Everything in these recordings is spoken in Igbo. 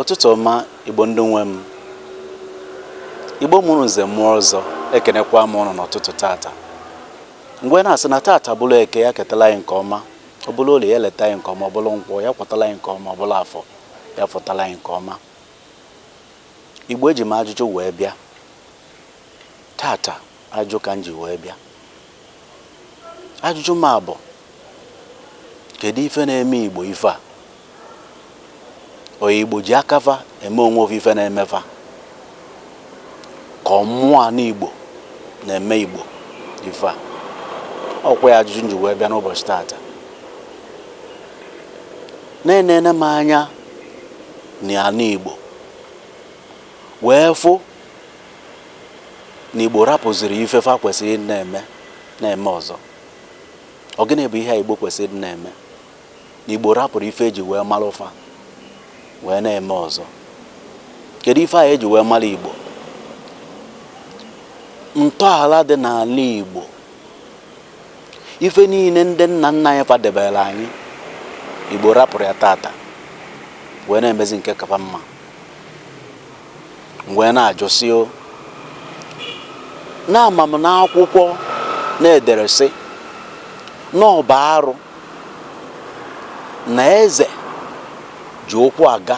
ụtụtụ ọma igbo ndị nwe m igbo mụrụ nze mụọ ọzọ ekenekwa m ụnụ n'ụtụtụ tata m wee na-asị na tata bụrụ eke ya ketala anyị nke ọma ọ bụrụ olie ya lieta anyị nke ọma ọ bụrụ nkwọ ya kwọtala anyị nke ọma ọ bụrụ afọ ya fọtala anyị nke ọma igbo eji m ajụjụ wee bịa tata Ajụjụ ka m ji wee bịa. Ajụjụ m a bụ, kedu ife na-eme Igbo ife a? Ọ Igbo ji aka fa eme onwe fa ife na-eme fa? Ka ọ mmụọ anị Igbo na-eme Igbo ife a? Ọkwa ya ajụjụ m ji wee bịa n'ụbọchị taata. Na enene m anya n'anị Igbo wee fụ na Igbo rapụziri ife fa kwesịrị ịdị na-eme na-eme ọzọ ọ gịnị bụ ihe a Igbo kwesịrị ịdị na-eme na Igbo rapụrụ ife eji wee mara fa wee na-eme ọzọ kedu ife a eji wee mara Igbo ntọala dị n'ala Igbo ife niile ndị nna nna anyị fa debere anyị Igbo rapụrụ ya tata wee na-emezi nke ka fa mma wee na-ajụ sị o na ama m na akwụkwọ na-edere sị na ọ bụ arụ na eze ji ụkwụ aga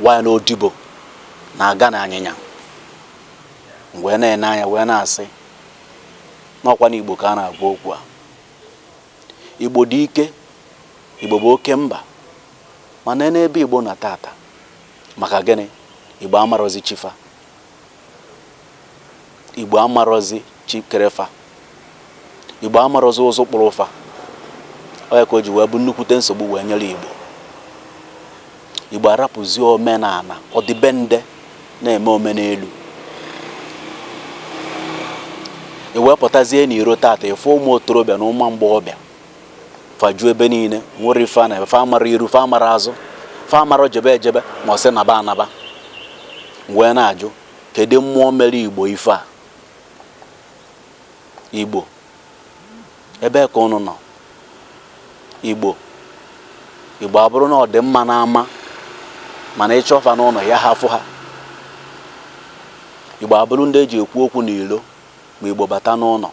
while na odibo na-aga na anyịnya m wee na-ene anya wee na-asị n'ọkwa na igbo ka a na-agwa okwu a igbo dị ike igbo bụ oke mba mana nee ebe igbo nọ tata maka gịnị igbo amarọzi chi fa igbo amarọzi chi kere fa igbo amarọzi ụzụ kpụrụ fa ọ ya ka o ji wee bụ nnukwute nsogbu wee nyere igbo igbo arapụzi omenala ọdịbendị na-eme omenelu i wee pụtazie n'iro tata ị fụ ụmụ otorobịa na ụmụ mgbọghọbịa fa ju ebe niile nwere ife a na-ebe fa amarọ iru fa amarọ azụ fa amarọ jebe ejebe ma ọ sị naba anaba m wee na-ajụ kedu mmụọ mere igbo ife a igbo ebe ka ụnụ nọ igbo igbo abụrụ na ọ dị mma n'ama mana ị chọọ fa n'ụnọ ya ha fụ ha igbo abụrụ ndị eji ekwu okwu n'ilo ma igbo bata n'ụnọ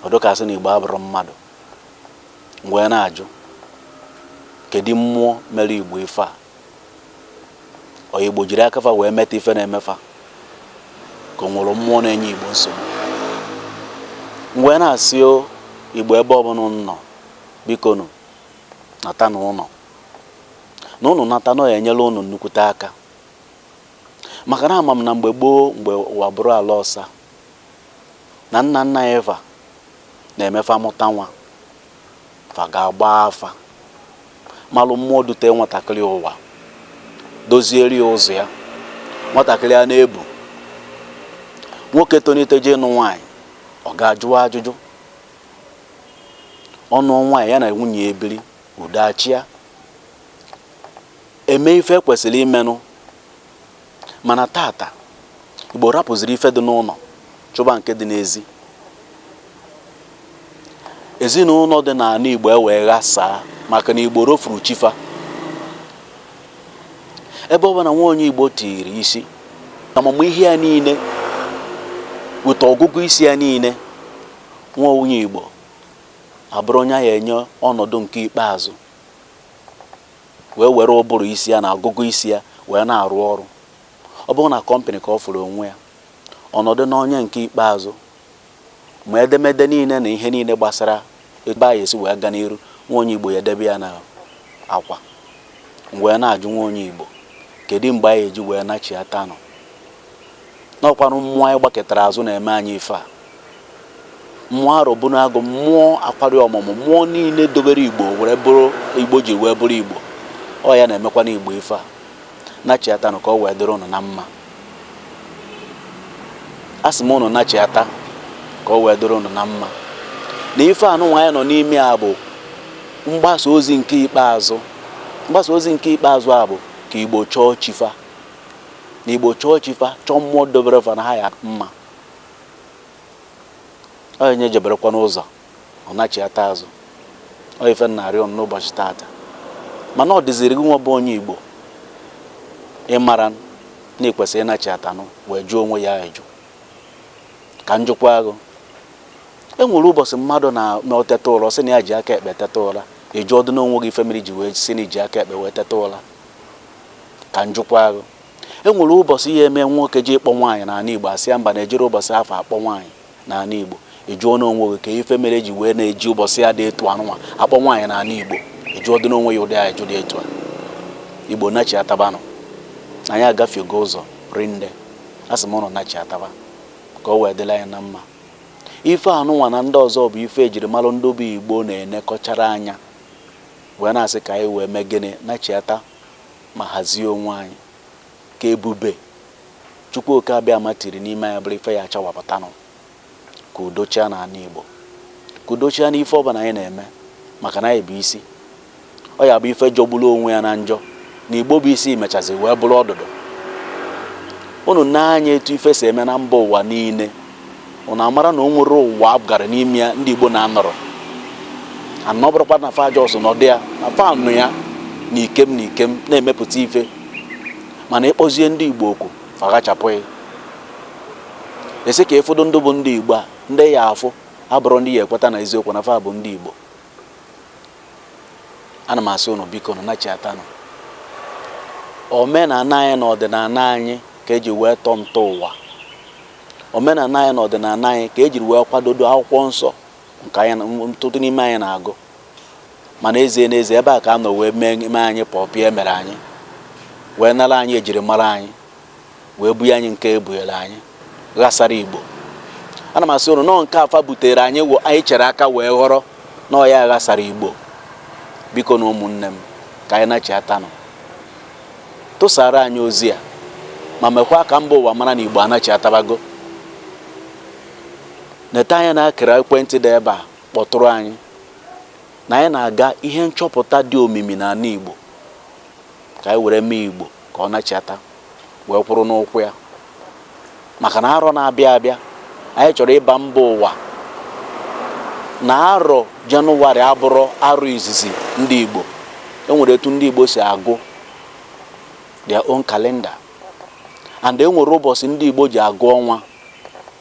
ọ dị ka sị na igbo abụrọ mmadụ m wee na-ajụ kedu mmụọ mere igbo ife a ọ igbo jiri aka fa wee meta ife na-eme fa ka o nwere mmụọ na-enye igbo nsogbu m wee na-asị igbo ebe ọbụla ụnụ nọ bikonụ nata n'ụnọ na ụnụ nata na ọ ya-enyela ụnụ nnukwute aka maka na ama m na mgbe gboo mgbe ụwa bụrụ ala ọsa na nna nna anyị fa na-eme fa mụta nwa fa ga-agba afa malụ mmụọ dute nwatakịrị ụwa dozieri ya ụzọ ya nwatakịrị a na-ebu nwoke tonite jee ịnụ nwaanyị ọ ga-ajụ ajụjụ ọ nụọ nwaanyị ya na nwunye ya ebiri udo achịa e mee ife e kwesịrị imenụ Mana tata, Igbo rapụziri ife dị n'ụnọ chụba nke dị n'ezi. Ezinụnọ dị n'ala Igbo ewee ghasaa maka na Igbo rofuru chi fa. Ebe ọbụna nwa onye Igbo tiri isi, amamihe ya niile weta ọgụgụ isi ya niile, nwa onye Igbo abụrụ onye a ya-enye ọnọdụ nke ikpeazụ wee were ụbụrụ isi ya na agụgụ isi ya wee na-arụ ọrụ. Ọ bụrụ na company ka ọ fụrụ onwe ya, ọ nọdụ n'onye nke ikpeazụ, ma edemede niile na ihe niile gbasara ebe a ya-esi wee ga n'iru, nwa onye Igbo ya-edebe ya na akwa. M wee na-ajụ nwa onye Igbo, kedụ mgbe anyị eji wee nachiata ụnọ na ọ kwanụ mmụọ anyị gbakụtara azụ na-eme anyị ife a mmụọ arọbụnagụ mmụọ akwari ọmụmụ mmụọ niile dobere igbo were bụrụ igbo ji wee bụrụ igbo ọ ya na-emekwanụ igbo ife a nachiatanụ ka o wee dịrị ụnụ na mma asị m ụnụ nachiata ka o wee dịrị ụnụ na mma na ife anyị nwa nọ n'ime a bụ mgbasa ozi nke ikpeazụ mgbasa ozi nke ikpeazụ a bụ ka igbo chọọ chi fa na igbo chọọ chi fa chọọ mmụọ dobere fa na ha ya mma onye jeberekwa n'ụzọ ọ nachiata azụ ọ ife narị ọnụ n'ụbọchị taata mana ọ dịziri gị nwa bụ onye igbo ịmara na i kwesịrị ịnachiatanụ wee jụọ onwe ya ajụ ka m jụkwaa gị e nwere ụbọchị mmadụ na-eteta ụra sị na ya ji aka ekpe teta ụra ị jụọdụ onwe gị ife mere i ji wee sị na i ji aka ekpe wee teta ụra ka m jụkwaa gị e nwere ụbọsị ihe eme nwoke ji ịkpọ nwaanyị n'ana Igbo asị ya mba na e jiri ụbọsị afọ akpọ nwaanyị n'ana Igbo ị jụọna onwe gị ka ife mere eji wee na-eji ụbọsị a dị etu anụnwa akpọ nwaanyị n'ana Igbo ị jụọdịna onwe gị ụdị ajụjụ dị etu a Igbo nachiatabanụ anyị agafego ụzọ rinne a sị m ụnụ nachiataba ka ọ wee dịlị anyị na mma ife anụnwa na ndị ọzọ bụ ife ejiri malụ ndị bụ Igbo na-enekọchara anya wee na-asị ka anyị wee mee gịnị nachiata ma hazie onwe anyị ka ebube Chukwu oke abịama tiri n'ime anyị bụrụ ife ya achawapụtanụ ka udo chịa na ana Igbo ka udo chịa n'ife ọbụla anyị na-eme maka na anyị bụ isi ọ ya-abụ ife jọgburu onwe ya na njọ na Igbo bụ isi mechazi wee bụrụ ọdụdụ unu nee anya etu ife si eme na mba ụwa niile ụnụ amara na o nwere ụwa a gara n'ime ya ndị Igbo na-anọrọ ya na ọ bụrọkwa na fa just nọdụ ya na fa nọ ya na ikem na ikem na-emepụta ife mana ịkpọzie ndị Igbo okwu fa ghachapụ gị esi ka ịfọdụ ndị bụ ndị Igbo a ndị ya-afụ abụrụ ndị ya-ekweta na eziokwu na fa bụ ndị Igbo ana m asị ụnụ bikonụ nachiatanụ omenala anyị na ọdịnala anyị ka eji wee tọọ ntọ ụwa Omenala anyị na ọdịnala anyị ka e jiri wee kwadodo akwụkwọ nsọ nke anyị ọtụtụ n'ime anyị na-agụ ma n'ezie n'ezie ebe a ka a nọ wee mee anyị pọpịa e mere anyị wee nara anyị ejiri mara anyị wee bunye anyị nke ebunyere anyị ghasara Igbo ana m asị ụnụ na ọ nke a fa butere anyị anyị chere aka wee ghọrọ na ọ ya ghasara Igbo bikonụ ụmụnne m ka anyị nachiatanụ tụsara anyị ozi a ma mekwa ka mba ụwa mara na Igbo anachiatabago neta anya na akara ekwentị dị ebe a kpọtụrụ anyị na anyị na-aga ihe nchọpụta dị omimi na ana Igbo ka anyị were mee Igbo ka ọ nachiata wee kwụrụ n'ụkwụ ya maka na arọ na-abịa abịa anyị chọrọ ịgwa mba ụwa na arọ jenụwarị abụrọ arọ izizi ndị Igbo enwere etu ndị Igbo si agụ their own calendar and enwere ụbọsị ndị Igbo ji agụ ọnwa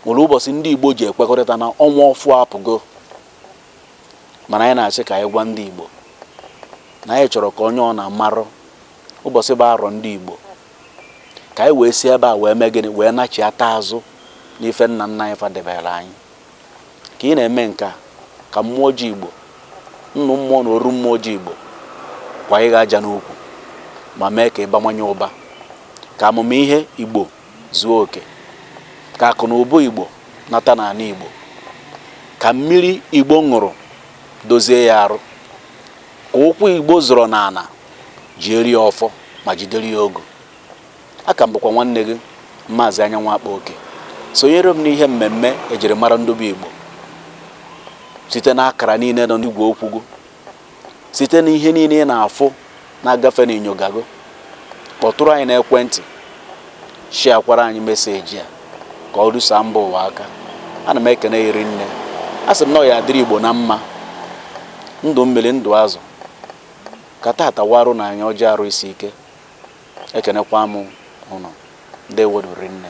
nwere ụbọsị ndị Igbo ji ekwekọrịta na ọnwa ọfụụ apụgo mana anyị na-asị ka anyị gwa ndị Igbo na anyị chọrọ ka onye ọbụna marụ ụbọsị bụ arọ ndị Igbo ka anyị wee si ebe a wee mee gịnị wee nachiata azụ n'ife nna nna anyị fa debere anyị ka ị na-eme nke a ka mmụọ ji igbo nnụ mmụọ na oru mmụọ ji igbo kwaa gị aja n'ukwu ma mee ka ị bawanye ụba ka amamihe igbo zuo oke ka akụ na ụba igbo nata n'ana igbo ka mmiri igbo ṅụrụ dozie ya arụ ka ụkwụ igbo zọrọ n'ala jiere ya ọfọ ma jidere ya ogu aka m bụkwa nwanne gị maazị anyanwụ akpa oke sonyere m n'ihe mmemme ejiri mara ndị bụ igbo site na akara niile nọ n'igwe okwu gị site na ihe niile ị na-afụ na-agafe na inyogo gị kpọtụrụ anyị n'ekwentị shiakwara anyị meseji a ka o rusa mba ụwa aka ana m ekene rinne a sị m na ọ ya adịrị igbo na mma ndụ mmiri ndụ azụ ka tata warụ na anyị ọjị arụ isi ike ekenekwa m ụnụ ndeewo nụ rinne